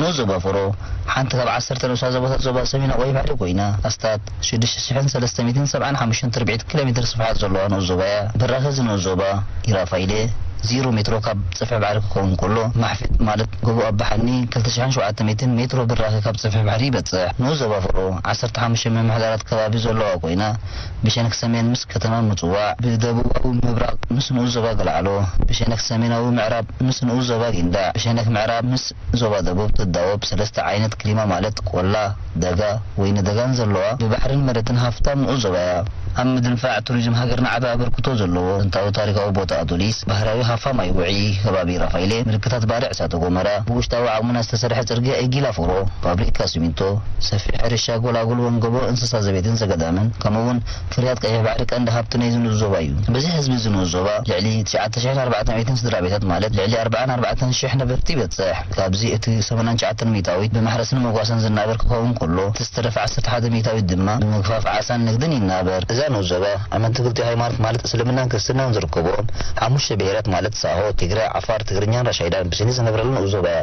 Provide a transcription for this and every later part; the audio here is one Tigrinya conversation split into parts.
ንኡስ ዞባ ፎሮ ሓንቲ ካብ ዓሰርተ ንኡሳት ዞባታት ዞባ ሰሜን ኣቑኢ ባሕሪ ኮይና፣ ኣስታት ሽዱሽተ ሽሕን ሰለስተ ሚእትን ሰብዓን ሓሙሽተን ትርብዒት ኪሎሜትር ስፍሓት ዘለዋ ንኡስ ዞባ እያ። በራኺ እዚ ንኡስ ዞባ ኢራፋይሌ ዚሮ ሜትሮ ካብ ጽፍሒ ባሕሪ ክኸውን ከሎ፣ ማሕፊጥ ማለት ጎቦ ኣባ ሓኒ ክልተ ሽሕን ሸውዓተ ሚእትን ሜትሮ በራኺ ካብ ጽፍሒ ባሕሪ ይበጽሕ። ንኡስ ዞባ ፎሮ ዓሰርተ ሓሙሽተ ምምሕዳራት ከባቢ ዘለዋ ኮይና፣ ብሸነኽ ሰሜን ምስ ከተማ ምጽዋዕ፣ ብደቡባዊ ምብራቕ ምስ ንኡስ ዞባ ገልዓሎ፣ ብሸነኽ ሰሜናዊ ምዕራብ ምስ ንኡስ ዞባ ጊንዳዕ፣ ብሸነኽ ምዕራብ ምስ ዞባ ደቡብ ትዳወብ ሰለስተ ዓይነት ክሊማ ማለት ቆላ፣ ደጋ፣ ወይኒ ደጋን ዘለዋ ብባሕርን መሬትን ሃፍታም ንኡስ ዞባ እያ። ኣብ ምድንፋዕ ቱሪዝም ሃገርና ዓቢ ኣበርክቶ ዘለዎ ጥንታዊ ታሪኻዊ ቦታ ኣዱሊስ፣ ባህርያዊ ሃፋ ማይ ውዑይ ከባቢ ራፋይሌ፣ ምልክታት ባርዕ እሳተ ጎመራ፣ ብውሽጣዊ ዓቕምና ዝተሰርሐ ጽርግያ ኤጊላ ፎሮ፣ ፋብሪካ ሲሚንቶ፣ ሰፊሕ ሕርሻ፣ ኣጎላጉል ወንገቦ እንስሳ ዘቤትን ዘገዳምን ከምኡ እውን ፍርያት ቀይሕ ባሕሪ ቀንዲ ሃብቲ ናይዚ ንኡስ ዞባ እዩ። በዚ ሕዝቢ እዚ ንኡስ ዞባ ልዕሊ ትሽዓተ ሽሕን ኣርባዕተ ሚእትን ስድራ ቤታት ማለት ልዕሊ ኣርባዓን ኣርባዕተን ሽሕ ነበርቲ ይበጽሕ። ካብዚ እቲ ሰማንያን ትሽዓተን ሚእታዊት ብማሕረስን መጓሰን ዝናበር ክኸውን ከሎ እቲ ዝተረፈ ዓሰርተ ሓደ ሚእታዊት ድማ ብምግፋፍ ዓሳን ንግድን ይናበር። እዛ ንኡስ ዞባ ኣመንቲ ክልቲኡ ሃይማኖት ማለት እስልምናን ክርስትናን ዝርከብዎም ሓሙሽተ ብሄራት ማለት ሳሆ፣ ትግረ፣ ዓፋር፣ ትግርኛን ራሻይዳን ብስኒት ዝነብረላ ንኡስ ዞባ እያ።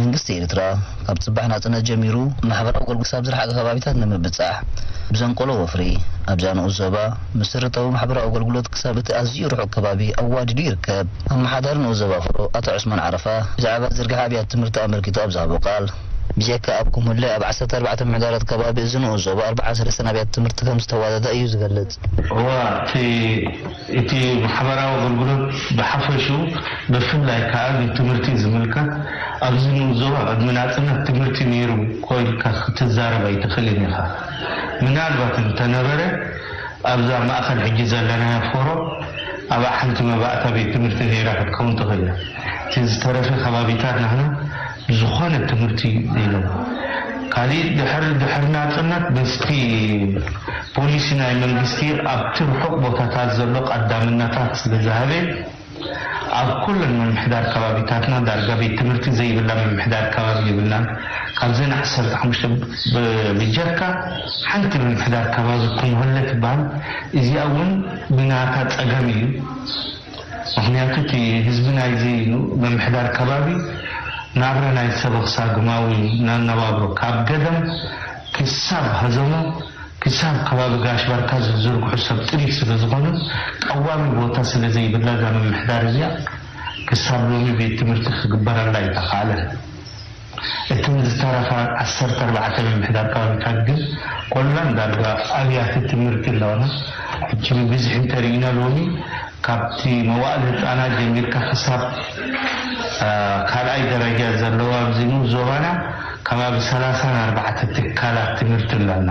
መንግስቲ ኤርትራ ካብ ጽባሕ ናጽነት ጀሚሩ ማሕበራዊ ኣገልግሎት ክሳብ ዝረሓቐ ከባቢታት ንምብጻሕ ብዘንቀሎ ወፍሪ ኣብዛ ንኡስ ዞባ መሰረታዊ ማሕበራዊ ኣገልግሎት ክሳብ እቲ ኣዝዩ ርሑቕ ከባቢ ኣዋዲዱ ይርከብ። ኣመሓዳሪ ንኡስ ዞባ ፍሮ ኣቶ ዑስማን ዓረፋ ብዛዕባ ዝርግሐ ኣብያተ ትምህርቲ ኣመልኪቱ ኣብ ዝሃቦ ቃል፣ ብጀካ ኣብ ኩምለ፣ ኣብ ዓሰርተ ኣርባዕተ ምሕደራት ከባቢ እዚ ንኡስ ዞባ ኣርብዓ ሰለስተን ኣብያተ ትምህርቲ ከም ዝተዋደዳ እዩ ዝገልጽ። እዋእ እቲ ማሕበራዊ ኣገልግሎት ብሓፈሽኡ ብፍላይ ከኣ ቤት ትምህርቲ ዝምልከት ኣብዚ ንኡስ ዞባ ቅድሚ ናጽነት ትምህርቲ ነይሩ እኮ ኢልካ ክትዛረብ ኣይትኽእልን ኢኻ ምናልባት እንተነበረ ኣብዛ ማእከል ሕጂ ዘለናያ ፎሮ ኣብኣ ሓንቲ መባእታ ቤት ትምህርቲ ነይራ ክትከውን ትኽእል እያ እቲ ዝተረፈ ከባቢታት ናህና ዝኾነ ትምህርቲ ኢሎም ካሊእ ድሕሪ ድሕሪ ናጽነት በዝቲ ፖሊሲ ናይ መንግስቲ ኣብቲ ርሑቕ ቦታታት ዘሎ ቐዳምናታት ስለ ዝሃበ ኣብ ኩለን ምምሕዳር ከባቢታትና ዳርጋ ቤት ትምህርቲ ዘይብላ ምምሕዳር ከባቢ የብልናን ካብዘን ዓሰርተ ሓሙሽተ ብጀካ ሓንቲ ምምሕዳር ከባቢ ኩምሁለ ትብሃል እዚኣ ውን ብናታ ጸገም ኢዩ ምኽንያቱ እቲ ህዝቢ ናይዚ ምምሕዳር ከባቢ ናብራ ናይ ሰበኽሳ ግማዊ ናነባብሮ ካብ ገደም ክሳብ ሀዘሞ ክሳብ ከባቢ ጋሽ ባርካ ዝዝርግሑ ሰብ ጥሪት ስለ ዝኾኑ ቀዋሚ ቦታ ስለ ዘይብላ እዛ ምምሕዳር እዚኣ ክሳብ ሎሚ ቤት ትምህርቲ ክግበረላ ኣይተኻእለን። እተን ዝተረፋ ዓሰርተ ኣርባዕተ ምምሕዳር ከባቢታት ግን ኮላን ዳርጋ ኣብያተ ትምህርቲ ኣለወን። ሕጂ ብብዝሒ እንተርኢና ሎሚ ካብቲ መዋእል ህጻናት ጀሚርካ ክሳብ ካልኣይ ደረጃ ዘለዋ ኣብዚ ንኡስ ዞባና ከባቢ ሰላሳን ኣርባዕተ ትካላት ትምህርቲ ኣለና።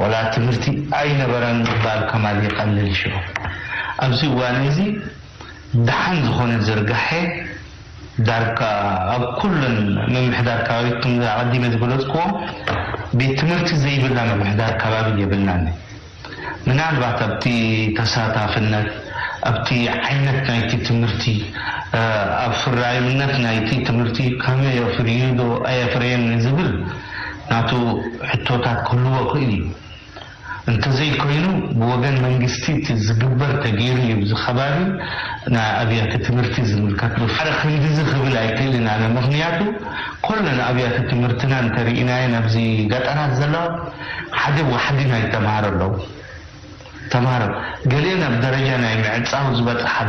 ወላ ትምህርቲ ኣይነበረን ምባል ከማን ይቀልል ሽዑ ኣብዚ እዋን እዚ ደሓን ዝኾነ ዝርጋሐ ዳርጋ ኣብ ኩለን ምምሕዳር ከባቢ እቶም ኣቀዲመ ዝገለጽክዎም ቤት ትምህርቲ ዘይብላ ምምሕዳር ከባቢ የብልናን ምናልባት ኣብቲ ተሳታፍነት ኣብቲ ዓይነት ናይቲ ትምህርቲ ኣፍራይነት ናይቲ ትምህርቲ ከመይ ኣፍርዩዶ ኣየፍረየን ንዝብል ናቱ ሕቶታት ክህልዎ ክእል እዩ እንተዘይ ኮይኑ ብወገን መንግስቲ እቲ ዝግበር ተገይሩ እዩ እዚ ከባቢ ናይ ኣብያተ ትምህርቲ ዝምልከት ብፍላይ ክንድዚ ክብል ኣይክእልን ኣነ ምክንያቱ ኮለን ኣብያተ ትምህርትና እንተሪኢናየን ኣብዚ ገጠራት ዘለዋ ሓደ ዋሕዲ ናይ ተማሃሮ ኣለው ተማሃሮ ገሊኤን ኣብ ደረጃ ናይ ምዕጻው ዝበጽሓሉ፣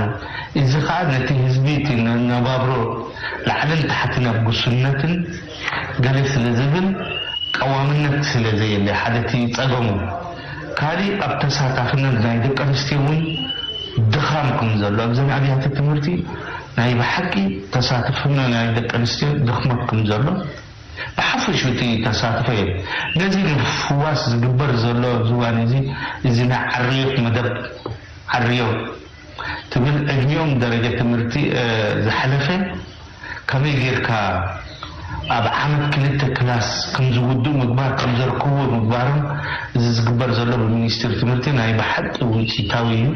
እዚ ከኣ ነቲ ህዝቢ እቲ መነባብሮ ላዕልን ታሕትን ኣብ ጉስነትን ገለ ስለ ዝብል ቀዋምነት ስለ ዘየለ ሓደ እቲ ጸገሙ። ካሊእ ኣብ ተሳታፍነት ናይ ደቂ ኣንስትዮ እውን ድኻም ከም ዘሎ ኣብዘን ኣብያተ ትምህርቲ ናይ ብሓቂ ተሳትፍኖ ናይ ደቂ ኣንስትዮ ድኽመት ከም ዘሎ፣ ብሓፈሹ እቲ ተሳትፎዬ ነዚ ንምፍዋስ ዝግበር ዘሎ ዝዋኔዚ እዚ ናይ ዓርዮት መደብ ዓርዮ ትብል ዕድሚኦም ደረጀ ትምህርቲ ዝሓለፈ ከመይ ጌርካ ኣብ ዓመት ክልተ ክላስ ከምዝውድኡ ምግባር ከምዘርክብዎ ምግባሮም እዚ ዝግበር ዘሎ ብሚኒስትሪ ትምህርቲ ናይ ብሓቂ ውጺታዊ እዩ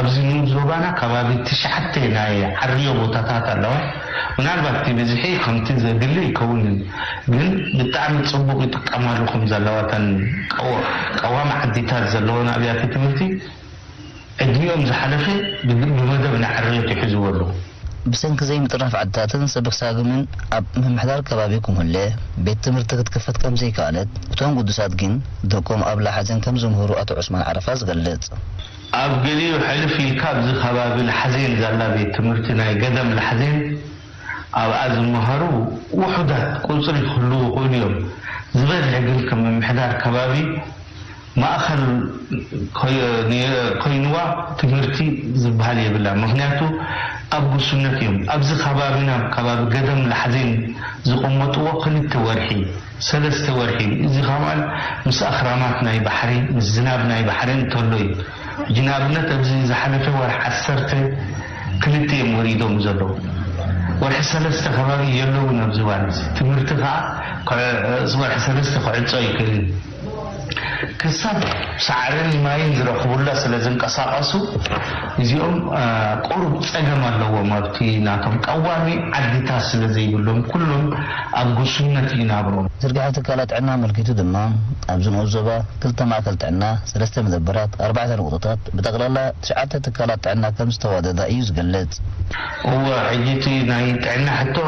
ኣብዚ ንኡስ ዞባና ከባቢ ትሽዓተ ናይ ዓርዮ ቦታታት ኣለዋ ምናልባት እቲ ብዝሒ ከምቲ ዘድሊ ኣይከውንን ግን ብጣዕሚ ጽቡቅ ይጥቀማሉ ከም ዘለዋ እተን ቀዋሚ ዓዲታት ዘለወን ኣብያተ ትምህርቲ ዕድሚኦም ዝሓለፈ ብመደብ ንዕርየት ይሕዝዎ ኣለዉ። ብሰንኪ ዘይምጥርናፍ ዓድታትን ሰበኽ ሳግምን ኣብ ምምሕዳር ከባቢ ኩምለ ቤት ትምህርቲ ክትክፈት ከም ዘይከኣለት እቶም ግዱሳት ግን ደቆም ኣብ ላሓዘን ከም ዝምህሩ ኣቶ ዑስማን ዓረፋ ዝገልጽ። ኣብ ገሊኡ ሕልፍ ኢልካ ኣብዚ ከባቢ ላሕዜን ዛላ ቤት ትምህርቲ ናይ ገዳም ላሕዜን ኣብኣ ዝመሃሩ ውሑዳት ቁጽሪ ክህልዉ ይኽእሉ እዮም። ዝበዝሐ ግን ከም ምምሕዳር ከባቢ ማእኸል ኮይንዋ ትምህርቲ ዝበሃል የብላን። ምኽንያቱ ኣብ ጉሱነት እዮም። ኣብዚ ከባቢና ኣብ ከባቢ ገዳም ላሕዜን ዝቐመጥዎ ክልተ ወርሒ። ሰለስተ ወርሒ እዩ እዚ ኻባል ምስ ኣኽራናት ናይ ባሕሪ ምስ ዝናብ ናይ ባሕሪ እንተሎ እዩ ሕጂ ንኣብነት ኣብዚ ዝሓለፈ ወርሒ ዓሰርተ ክልተ እዮም ወሪዶም ዘለዉ ወርሒ ሰለስተ ኸባቢ የለዉን ኣብዚ እዋን እዚ ትምህርቲ ኻዓ ወርሒ ሰለስተ ክዕጾ ኣይክእልን እዩ ክሳብ ሳዕርን ማይን ዝረኽቡላ ስለ ዝንቀሳቐሱ እዚኦም ቁሩብ ጸገም ኣለዎም ኣብቲ ናቶም ቀዋሚ ዓድታት ስለ ዘይብሎም ኩሎም ኣብ ጉስነት እዩ ናብሮም። ዝርግሐ ትካላት ጥዕና ኣመልኪቱ ድማ ኣብዚ ንኡስ ዞባ ክልተ ማእከል ጥዕና፣ ሰለስተ መደበራት፣ ኣርባዕተ ንቑጠታት ብጠቕላላ ትሽዓተ ትካላት ጥዕና ከም ዝተዋደዳ እዩ ዝገልጽ። እወ ሕጂ እቲ ናይ ጥዕና ሕቶ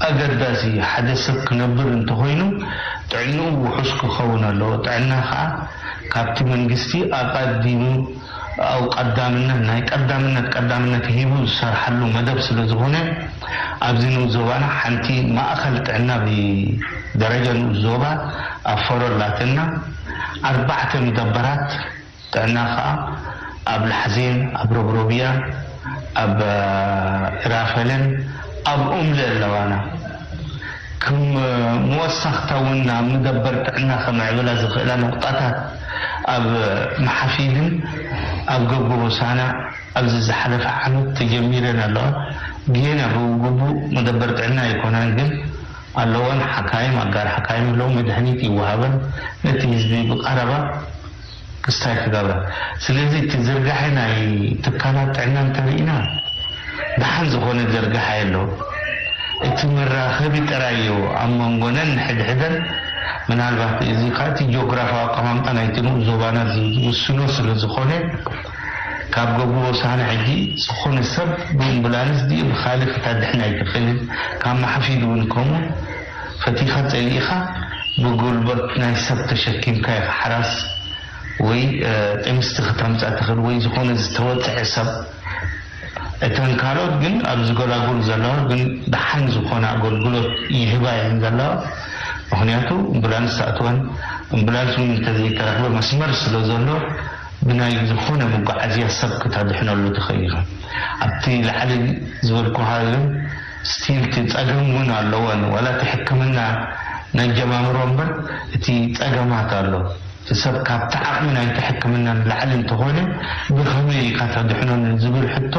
ኣገዳሲ ሓደ ሰብ ክነብር እንተኾይኑ ጥዕንኡ ውሑስ ክኸውን ኣለዎ። ጥዕና ከኣ ካብቲ መንግስቲ ኣቐዲሙ ኣው ቀዳምነት ናይ ቀዳምነት ቀዳምነት ሂቡ ዝሰርሓሉ መደብ ስለዝኾነ ኣብዚ ንኡስ ዞባና ሓንቲ ማእኸል ጥዕና ብደረጃ ንኡስ ዞባ ኣብ ፎሮ ኣላትና ኣርባዕተ ምደበራት ጥዕና ከኣ ኣብ ላሕዜን፣ ኣብ ሮብሮብያን፣ ኣብ እራፈለን ኣብ ኡምለ ኣለዋና። ክም ምወሳኽታ እውን ናብ ምደበር ጥዕና ከምዕብላ ዝኽእላ ነቑጣታት ኣብ መሓፊድን ኣብ ገብገ ሆሳና ኣብዚ ዝሓለፈ ዓመት ተጀሚረን ኣለዋ። ጌና ብግቡእ መደበር ጥዕና ኣይኮናን ግን ኣለወን ሓካይም ኣጋር ሓካይም ኣለዉ መድሀኒት ይወሃበን ነቲ ህዝቢ ብቐረባ ክስታይ ክገብራ ስለዚ እቲ ዝርጋሐ ናይ ትካላት ጥዕና እንተሪኢና ደሓን ዝኾነ ዝርጋሐ የሎ እቲ መራኸቢ ጥራይ እዩ ኣብ መንጎነን ንሕድሕደን ምናልባት እዚ ካኣ እቲ ጆግራፋዊ ኣቀማምጣ ናይቲ ንኡስ ዞባና ዝውስኖ ስለ ዝኾነ ካብ ገብሩ ሆሳህና ሕጂ ዝኾነ ሰብ ብእምቡላንስ ድዩ ብኻልእ ክተድሕን ኣይትኽእልን ካብ ማሓፊድ እውን ከምኡ ፈቲኻ ጸሊኢኻ ብጉልቦት ናይ ሰብ ተሸኪምካ ኢኻ ሓራስ ወይ ጥንስቲ ክተምጻ ትኽእል ወይ ዝኾነ ዝተወጽዐ ሰብ እተን ካልኦት ግን ኣብዚ ጎላጉል ዘለዋ ግን ደሓን ዝኾነ ኣጎልጉሎት ይህባ እየን ዘለዋ ምኽንያቱ እምቡላንስ ትኣትወን እምቡላንስ ውን እንተዘይተረኽበ መስመር ስለ ዘሎ ብናይ ዝኾነ መጓዓዝያ ሰብ ክተድሕነሉ ትኽእል ኢኻ ኣብቲ ላዕሊ ዝበልኩኻዮን ስቲል እቲ ጸገም እውን ኣለወን ዋላ እቲ ሕክምና ናይ ኣጀማምሮ እምበር እቲ ጸገማት ኣሎ እቲ ሰብ ካብቲ ዓቅሚ ናይቲ ሕክምና ንላዕሊ እንተኾነ ብኸመይ ኢኻ ተድሕኖ ንዝብል ሕቶ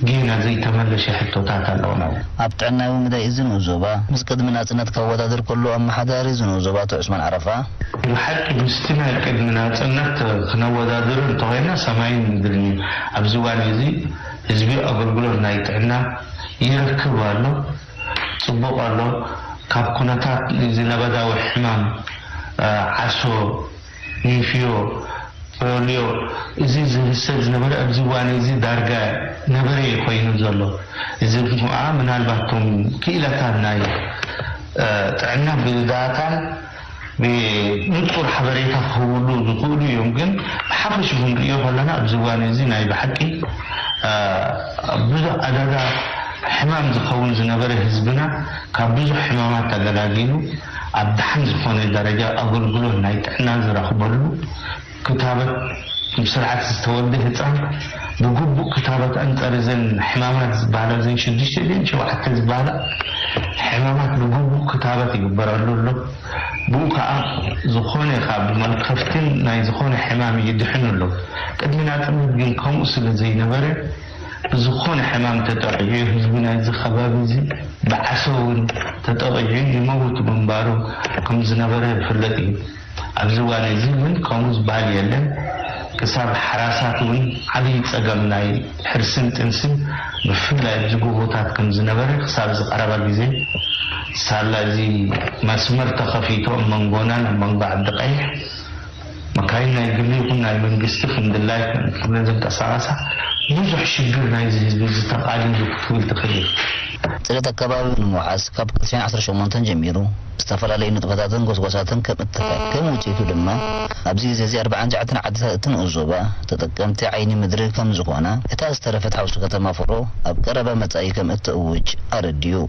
ጌና ዘይተመለሸ ሕቶታት ኣለውና። ኣብ ጥዕናዊ መዳይ እዚ ንኡስ ዞባ፣ ምስ ቅድሚ ናጽነት ከወዳድር ከሎ ኣመሓዳሪ እዚ ንኡስ ዞባ ኣቶ ዑስማን ዓረፋ፣ ብሓቂ ምስቲ ናይ ቅድሚ ናጽነት ክነወዳድሮ እንተኾይና ሰማይን ምድርን እዩ ኣብዚ እዋን እዚ፣ ህዝቢ ኣገልግሎት ናይ ጥዕና ይረክብ ኣሎ፣ ጽቡቕ ኣሎ፣ ካብ ኩነታት እዚ ለበዳዊ ሕማም ዓሶ፣ ኔፍዮ፣ ፖልዮ እዚ ዝህሰ ዝነበረ ኣብዚ እዋን እዚ ዳርጋ ነበረ እዩ ኮይኑ ዘሎ። እዚ ከኣ ምናልባት እቶም ክኢላታት ናይ ጥዕና ብዳታን፣ ንጹር ሓበሬታ ክህብሉ ዝኽእሉ እዮም ግን ብሓፈሽኡ ክንርእዮ ከለና ኣብዚ እዋን እዚ ናይ ብሓቂ ብዙሕ ዕዳጋ ሕማም ዝኸውን ዝነበረ ህዝብና ካብ ብዙሕ ሕማማት ተገላጊሉ ኣብ ደሓን ዝኾነ ደረጃ ኣገልግሎት ናይ ጥዕና ዝረኽበሉ ክታበት ብስርዓት ዝተወልደ ህፃን ብግቡእ ክታበት ኣንፀር እዘን ሕማማት ዝበሃላ እዘን ሽዱሽተ ድየን ሸውዓተ ዝበሃላ ሕማማት ብግቡእ ክታበት ይግበረሉ ኣሎ። ብኡ ከዓ ዝኾነ ካብ መልከፍትን ናይ ዝኾነ ሕማም ይድሕኑ ኣሎ። ቅድሚ ናፅነት ግን ከምኡ ስለ ዘይነበረ ብዝኾነ ሕማም ተጠቒዑ እዩ ህዝቢ ናይዚ ከባቢ እዚ ብዓሶ እውን ተጠቒዑ ይመውት ምንባሩ ከም ዝነበረ ዝፍለጥ እዩ። ኣብዚ እዋን እዚ እውን ከምኡ ዝበሃል የለን፣ ክሳብ ሓራሳት እውን ዓብዪ ፀገም ናይ ሕርስን ጥንስን ብፍላይ ኣብዚ ጎቦታት ከም ዝነበረ ክሳብ እዚ ቀረባ ግዜ ሳላ እዚ መስመር ተኸፊቱ ኣብ መንጎናን ኣብ መንጎ ዓዲቀይሕ መካይን ናይ ግሊ ይኹን ናይ መንግስቲ ከምድላይ ክብለን ዝንቀሳቐሳ ብዙሕ ሽግር ናይዚ ህዝቢ እዚ ተቃሊሉ ክትብል ትኽእል ኢኻ። ፅሬት ኣከባቢ ንምውሓስ ካብ ቀትሪ ዓሰርተ ሸሞንተ ጀሚሩ፣ ዝተፈላለዩ ንጥፈታትን ጎስጓሳትን ከም እትካየድ፣ ከም ውጽኢቱ ድማ ኣብዚ ግዜ'ዚ ኣርብዓን ትሽዓተን ዓድታት እቲ ንኡስ ዞባ ተጠቀምቲ ዓይኒ ምድሪ ከም ዝኾና፣ እታ ዝተረፈት ሓውሲ ከተማ ፎሮ ኣብ ቀረባ መጻኢ ከም እትእውጅ ኣረዲኡ።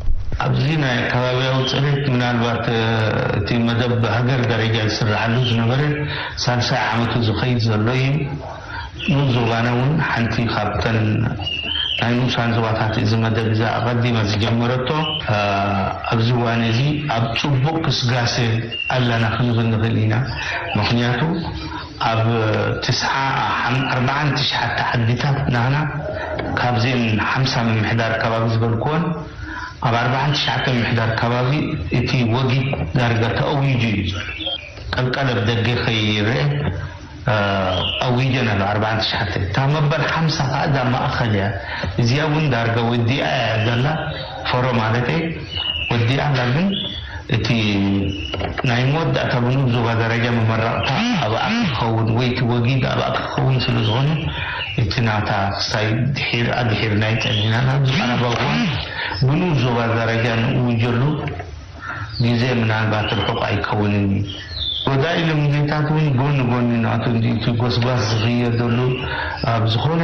ኣብዚ ናይ ኣከባቢያዊ ጽሬት ምናልባት እቲ መደብ ብሃገር ደረጃ ዝስርሓሉ ዝነበረ ሳልሳይ ዓመቱ ዝኸይድ ዘሎ እዩ። ኑዙጋና እውን ሓንቲ ካብተን ናይ ንኡሳን ዞባታት እዚ መደብ እዚ ኣቐዲማ ዝጀመረቶ ኣብዚ እዋን እዚ ኣብ ፅቡቕ ግስጋሰ ኣለና ክንብል ንኽእል ኢና። ምኽንያቱ ኣብ ትስዓ ኣርብዓን ትሽዓተ ዓዲታት ናህና ካብዚኤን ሓምሳ ምምሕዳር ከባቢ ዝበልኩወን ኣብ ኣርብዓን ትሽዓተን ምሕዳር ከባቢ እቲ ወጊድ ዳርጋ ተእዊጁ እዩ ዘሎ። ቀልቀል ኣብ ደገ ከይረኤ ኣዊጀን ኣሎ ኣርባዓን ትሽዓተን እታ መበል ሓምሳ ከኣ እዛ ማእከል እያ እዚኣ ውን ዳርጋ ወዲኣ እያ ዘላ ፎሮ ማለተይ ወዲኣ ኣላ ግን እቲ ናይ መወዳእታ ውን ኣብ ዞባ ደረጃ መመረቅታ ኣብኣ ክከውን ወይ እቲ ወጊድ ኣብኣ ክከውን ስለ ዝኮነ እቲ ናታ ክሳይ ድሒር ኣድሒርና እዩ ጸኒሕና ኣብዚ ቀረባ እዋን ውን ዞባ ደረጃ ንእውጀሉ ግዜ ምናልባት ርሑቕ ኣይከውንን እዩ፣ ወዳኢ ልምዲታት እውን ጎኒ ጎኒ ናቱ እንድዩ እቲ ጎስጓስ ዝኽየደሉ፣ ኣብ ዝኾነ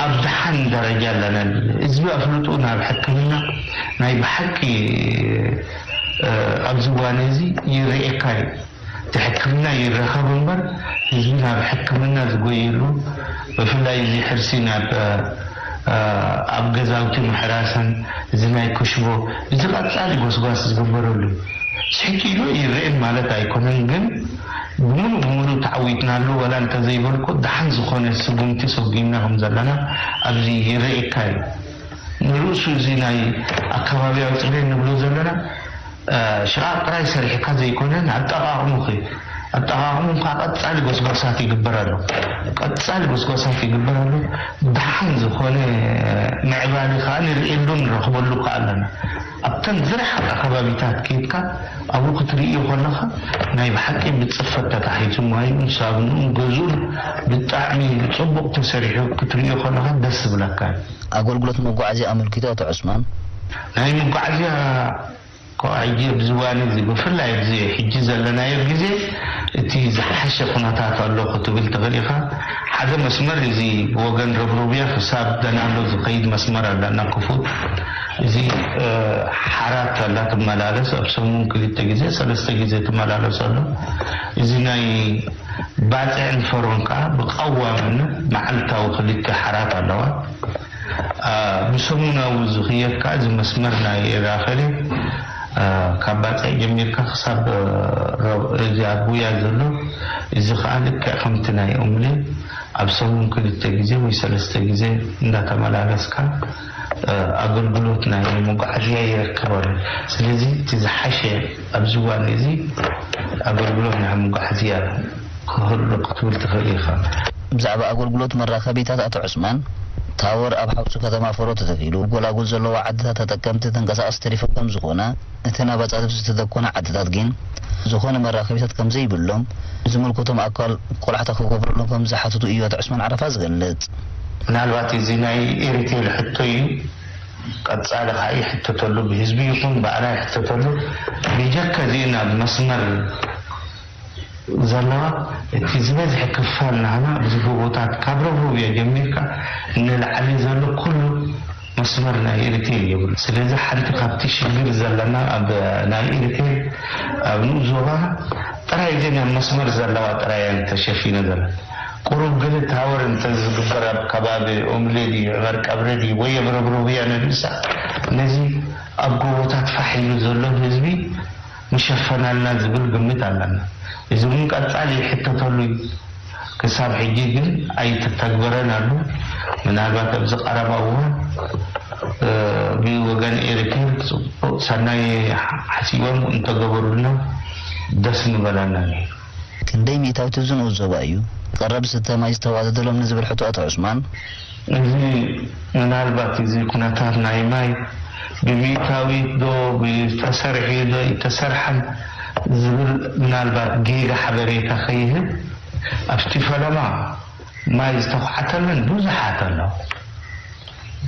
ኣብ ደሓን ደረጃ ኣለናሉ፣ ህዝቢ ኣፍልጥኡ ናብ ሕክምና ናይ ብሓቂ ኣብዚ እዋን እዚ ይርኤካ እዩ። እቲ ሕክምና ይረከብ እምበር ህዝቢ ናብ ሕክምና ዝጎየሉ ብፍላይ እዚ ሕርሲ ናብ ኣብ ገዛውቲ ምሕራስን እዚ ናይ ክሽቦ እዚ ቀጻሊ ጎስጓስ ዝግበረሉ ስሕት ኢሉ ኣይረኤን ማለት ኣይኮነን ግን ብሙሉእ ብሙሉእ ተዓዊትናሉ ዋላ እንተዘይበልኩ ደሓን ዝኮነ ስጉምቲ ሰጉምና ከምዘለና ኣብዚ ይረኤካ እዩ ንርእሱ እዚ ናይ ኣካባቢያዊ ጽሬን ንብሎ ዘለና ሽቓቕ ጥራይ ሰሪሕካ ዘይኮነ ንኣጠቓቕሙኺ ኣጠቓቕሙን ከኣ ቀጻሊ ጎስጓሳት ይግበረሉ ቀጻሊ ጎስጓሳት ይግበረሉ ደሓን ዝኾነ ምዕባሊ ከኣ ንርእየሉ ንረኽበሉ ከኣ ኣሎና ኣብተን ዝረሓቓ ከባቢታት ኬድካ ኣብኡ ክትርእዮ ከለኻ ናይ ብሓቂ ብጽፈት ተታሒዙ ማዩኡን ሳብንኡን ገዝኡን ብጣዕሚ ጽቡቕ ተሰሪሑ ክትርእዮ ከለኻ ደስ ዝብለካ እዩ። ኣገልግሎት መጓዓዝያ ኣመልኪቱ ኣቶ ዑስማን። ናይ መጓዓዝያ ከዋዕጂ ኣብዚ እዋን እዚ ብፍላይ ኣብዚ ሕጂ ዘለናዮ ግዜ እቲ ዝሓሸ ኩነታት ኣሎ ክትብል ትኽእል ኢኻ። ሓደ መስመር እዚ ብወገን ረብሩብያ ክሳብ ገናሎ ዝኸይድ መስመር ኣለና ክፉት። እዚ ሓራ ከላ ትመላለስ ኣብ ሰሙን ክልተ ግዜ ሰለስተ ግዜ ትመላለስ ኣሎ። እዚ ናይ። ባጽዕን ፈሮን ከኣ ብቐዋምነት መዓልታዊ ክልተ ሓራት ኣለዋ። ብሰሙናዊ ዝኽየድ ከኣ እዚ መስመር ናይ ኤርኣከሌ ካብ ባጽዕ ጀሚርካ ክሳብ እዚ ኣብ ጉያ ዘሎ እዚ ከኣ ልክዕ ከምቲ ናይ ኦምሌ ኣብ ሰሙን ክልተ ግዜ ወይ ሰለስተ ግዜ እንዳተመላለስካ ኣገልግሎት ናይ መጓዓዝያ ይረክባሉ። ስለዚ እቲ ዝሓሸ ኣብዚ እዋን እዚ ኣገልግሎት ናይ መጓዓዝያ ክህሉ ክትብል ትኽእል ኢኻ። ብዛዕባ ኣገልግሎት መራኸቢታት ኣቶ ዑስማን፣ ታወር ኣብ ሓውሲ ከተማ ፎሮ ተተኺሉ፣ ኣብ ጎላጉል ዘለዋ ዓድታት ተጠቀምቲ ተንቀሳቐሲ ተሪፎም ከምዝኾነ፣ እተን ኣባጻት ብዝተደኮና ዓድታት ጊን ዝኾነ መራኸቢታት ከምዘይብሎም ንዝምልከቶም ኣካል ቆላሕታ ክገብረሎም ከምዝሓተቱ እዩ ኣቶ ዑስማን ዓረፋ ዝገልጽ። ምናልባት እዚ ናይ ኤሪቴል ሕቶ እዩ ቀጻሊ ካኣ ይሕተተሉ ብህዝቢ ይኹን ባኣና ይሕተተሉ ቢጀካ እዚእን ኣብ መስመር። ዘለዋ እቲ ዝበዝሐ ክፋል ናህና እዚ ጎቦታት ካብ ረቡብያ ጀሚርካ ንላዕሊ ዘሎ ኩሉ መስመር ናይ ኢሪቴል የብሉ ስለዚ ሓንቲ ካብቲ ሽግር ዘለና ኣብ ናይ ኢሪቴል ኣብ ንኡስ ዞባ ጥራይ እዘን ኣብ መስመር ዘለዋ ጥራይ እየን ተሸፊነ ዘለ ቁሩብ ግን ታወር እንተዝግበር ኣብ ከባቢ ኡምሊ ድዩ ዕመርቀብሪ ድዩ ወይ ኣብ ረቡብያ ንርእሳ ነዚ ኣብ ጎቦታት ፋሕ ኢሉ ዘሎ ህዝቢ ምሸፈናልና ዝብል ግምት ኣለና። እዚ ውን ቀጻሊ ይሕተተሉ ዩ። ክሳብ ሕጂ ግን ኣይተተግበረን ኣሉ። ምናልባት ኣብዚ ቀረባ እዋን ብወገን ኤሪቴል ጽቡቅ ሰናይ ሓሲቦም እንተገበሩልና ደስ ምበለና ኔሩ። ክንደይ ሚእታዊት ዝንኡስ ዞባ እዩ ቐረብ ዝስተ ማይ ዝተዋደደሎም ንዝብል ሕቶ ኣቶ ዑስማን። እዚ ምናልባት እዚ ኩነታት ናይ ማይ ብሚእታዊት ዶ ብተሰርዔ ዶ እይተሰርሐን ዝብል ምናልባት ጌጋ ሓበሬታ ከይህብ ኣብቲ ፈለማ፣ ማይ ዝተዃዓተለን ብዙሓት ኣለዋ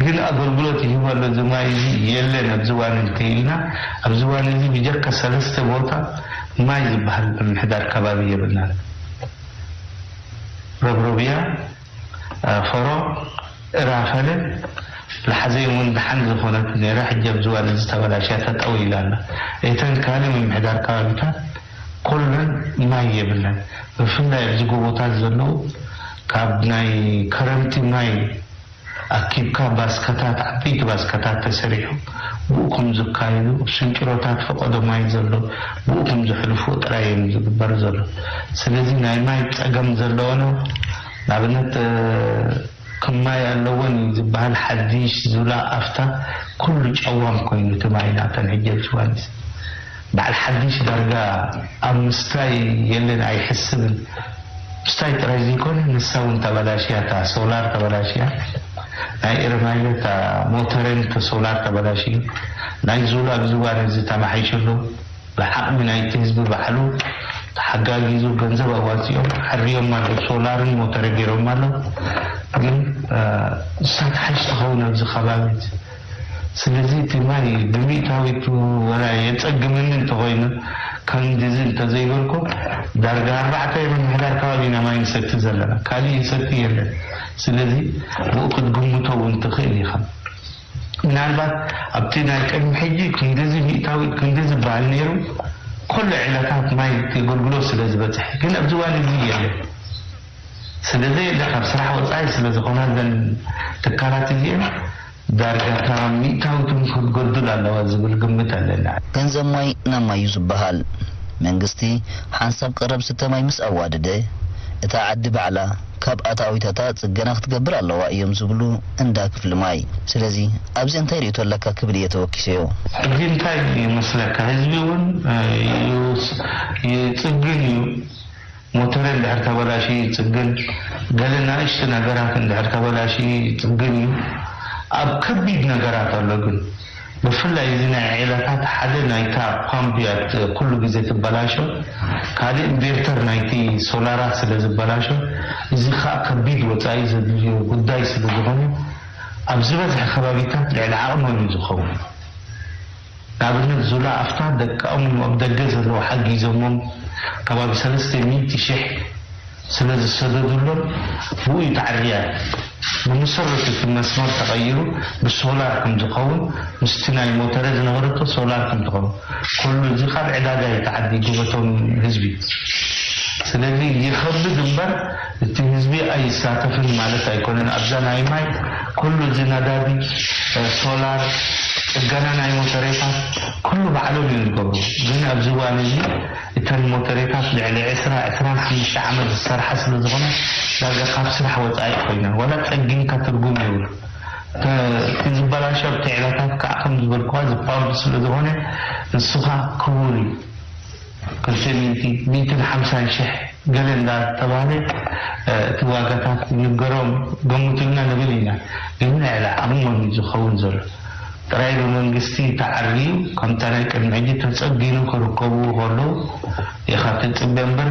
ግን ኣገልግሎት ይህበሉ እዚ ማይ እዚ የለን ኣብዚ ዋኒ እንተይልና ኣብዚ ዋኒ እዚ ብጀካ ሰለስተ ቦታ ማይ ዝበሃል ምምሕዳር ከባቢ የብልናን ረብሮብያ ፈሮ እራፈለ ልሓዘይ እውን ደሓን ዝኾነት ነይራ ሕጂ ኣብዚ ዋኒ እዚ ተበላሽያ ተጠውይላ ኣላ እተን ካልእ ምምሕዳር ከባቢታት ኮለን ማይ የብለን ብፍላይ ኣብዚ ጎቦታት ዘለው ካብ ናይ ከረምቲ ማይ ኣኪብካ ባስካታት ዓበይቲ ባስካታት ተሰሪሑ ብኡ ክም ዝካይዱ ስንጭሮታት ፈቀዶ ማይ ዘሎ ብኡ ክም ዝሕልፉ ጥራይ እዩም ዝግበር ዘሎ ስለዚ ናይ ማይ ጸገም ዘለወነ ናብነት ክም ማይ ኣለወን እዩ ዝበሃል ሓዲሽ ዙላ ኣፍታ ኩሉ ጨዋም ኮይኑ እቲ ማይ ናተን ሕጂ ኣብዝዋንዚ በዓል ሓድሽ ዳርጋ ኣብ ምስታይ የለን ኣይሕስብን ምስታይ ጥራይ ዘይኮነ ንሳ ውን ተበላሽያ እታ ሶላር ተበላሽያ ናይ ኤረማዮ እታ ሞተረን እቲ ሶላር ተበላሽዩ ናይ ዙላ ብዝባ ነዚ ተማሓይሽሉ ብዓቅሚ ናይቲ ህዝቢ ባዕሉ ተሓጋጊዙ ገንዘብ ኣዋጺኦም ኣዕርዮማ ኣለው ሶላርን ሞተረ ጌሮማ ኣለው ግን ንሳ ትሓይሽ ትከውን ኣብዚ ከባቢ ስለዚ እቲ ማይ ብሚእታዊቱ ወላ የጸግመኒ እንተኾይኑ ከምድዚ እንተዘይበልኩ ዳርጋ ኣርባዕተ ምምሕዳር ከባቢ ኢና ማይ ንሰቲ ዘለና ካሊእ ይሰቲ የለን ስለዚ ብኡ ክትግምቶ ውን ትኽእል ኢኻ ምናልባት ኣብቲ ናይ ቅድሚ ሕጂ ክንድዚ ሚእታዊት ክንዲ ዝብሃል ነይሩ ኮሎ ዒላታት ማይ እቲ ኣገልግሎት ስለዝበጽሐ ግን ኣብዚ እዋን እዚ የለን። ስለዘየለ ካብ ስራሕ ወጻኢ ስለዝኾና እዘን ትካላት እዚኤን ዳርጋ እታ ሚእታዊትውን ክትጎድል ኣለዋ ዝብል ግምት ኣለኒ። ገንዘብ ማይ ናብ ማይ እዩ ዝበሃል። መንግስቲ ሓንሳብ ቀረብ ዝስተ ማይ ምስ ኣዋደደ እታ ዓዲ ባዕላ ካብ ኣታዊታታ ጽገና ክትገብር ኣለዋ እዮም ዝብሉ እንዳ ክፍሊ ማይ። ስለዚ ኣብዚ እንታይ ርእይቶ ኣለካ ክብል እየ ተወኪሰዮ። ሕጂ እንታይ ይመስለካ ህዝቢ እውን ይጽግን እዩ። ሞተረይ እንድሕር ተበላሽዩ ይጽግን፣ ገለ ናእሽቱ ነገራት እንድሕር ተበላሽዩ ይጽግን እዩ። ኣብ ከቢድ ነገራት ኣሎ ግን። ብፍላይ እዚ ናይ ዔላታት ሓደ ናይታ ፓምፕ እያ ኩሉ ግዜ ትበላሾ፣ ካልእ ኢንቬርተር ናይቲ ሶላራት ስለ ዝበላሾ፣ እዚ ክኣ ከቢድ ወጻኢ ዘድልዮ ጉዳይ ስለ ዝኾነ ኣብ ዝበዝሐ ከባቢታት ልዕሊ ዓቕኖም እዩ ዝኸውን። ንኣብነት ዙላ ኣፍታ ደቃኦም እዮም ኣብ ደገ ዘለዉ ሓጊዞሞም ከባቢ ሰለስተ ሚእቲ ሽሕ ስለ ዝሰደዱሎም ብኡ እዩ ተዓርያ ብመሰረቱ እቲ መስመር ተቀይሩ ብሶላር ከም ዝከውን ምስቲ ናይ ሞተረ ዝነበረቶ ሶላር ከም ትከውን ኩሉ እዚ ካብ ዕዳጋ እዩ ተዓዲጉ በቶም ህዝቢ ስለዚ ይከብድ እምበር እቲ ህዝቢ ኣይሳተፍን ማለት ኣይኮነን ኣብዛ ናይ ማይ ኩሉ እዚ ነዳዲ ሶላር ፅገና ናይ ሞተሬታት ኩሉ ባዕሎም እዮም ዝገብሩ ግን ኣብዚ እዋን እዚ እተን ሞተሬታት ልዕሊ ዕስራ ዕስራን ሓምሽተ ዓመት ዝሰርሓ ስለዝኾና ዳርጋ ካብ ስራሕ ወፃኢ ኮይነን ዋላ ፀጊንካ ትርጉም የብሉ እቲ ዝበላሾ ኣብቲ ዕለታት ከዓ ከምዝበልኩኻ እዚ ፓምፕ ስለዝኾነ ንስኻ ክቡር እዩ ክልተ ሚእቲ፣ ሚእትን ሓምሳን ሽሕ ገለ እንዳ ተባህለ እቲ ዋጋታት ክንገሮም ገምቱልና ንብል ኢና ግን ናይ ኣልዓቅሞም እዩ ዝከውን ዘሎ ጥራይ ብመንግስቲ ተዓርዩ ከም ጠረ ቅድሚ ሕጂ ተጸጊኑ ክርከብዎ ከለው ኢካ ትጽበ እምበር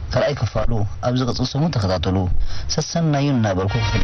ካልኣይ ክፋሉ ኣብ ዝቅጽል ሰሙን ተከታተሉ ሰሰናዩ እናበልኩ ክፍሊ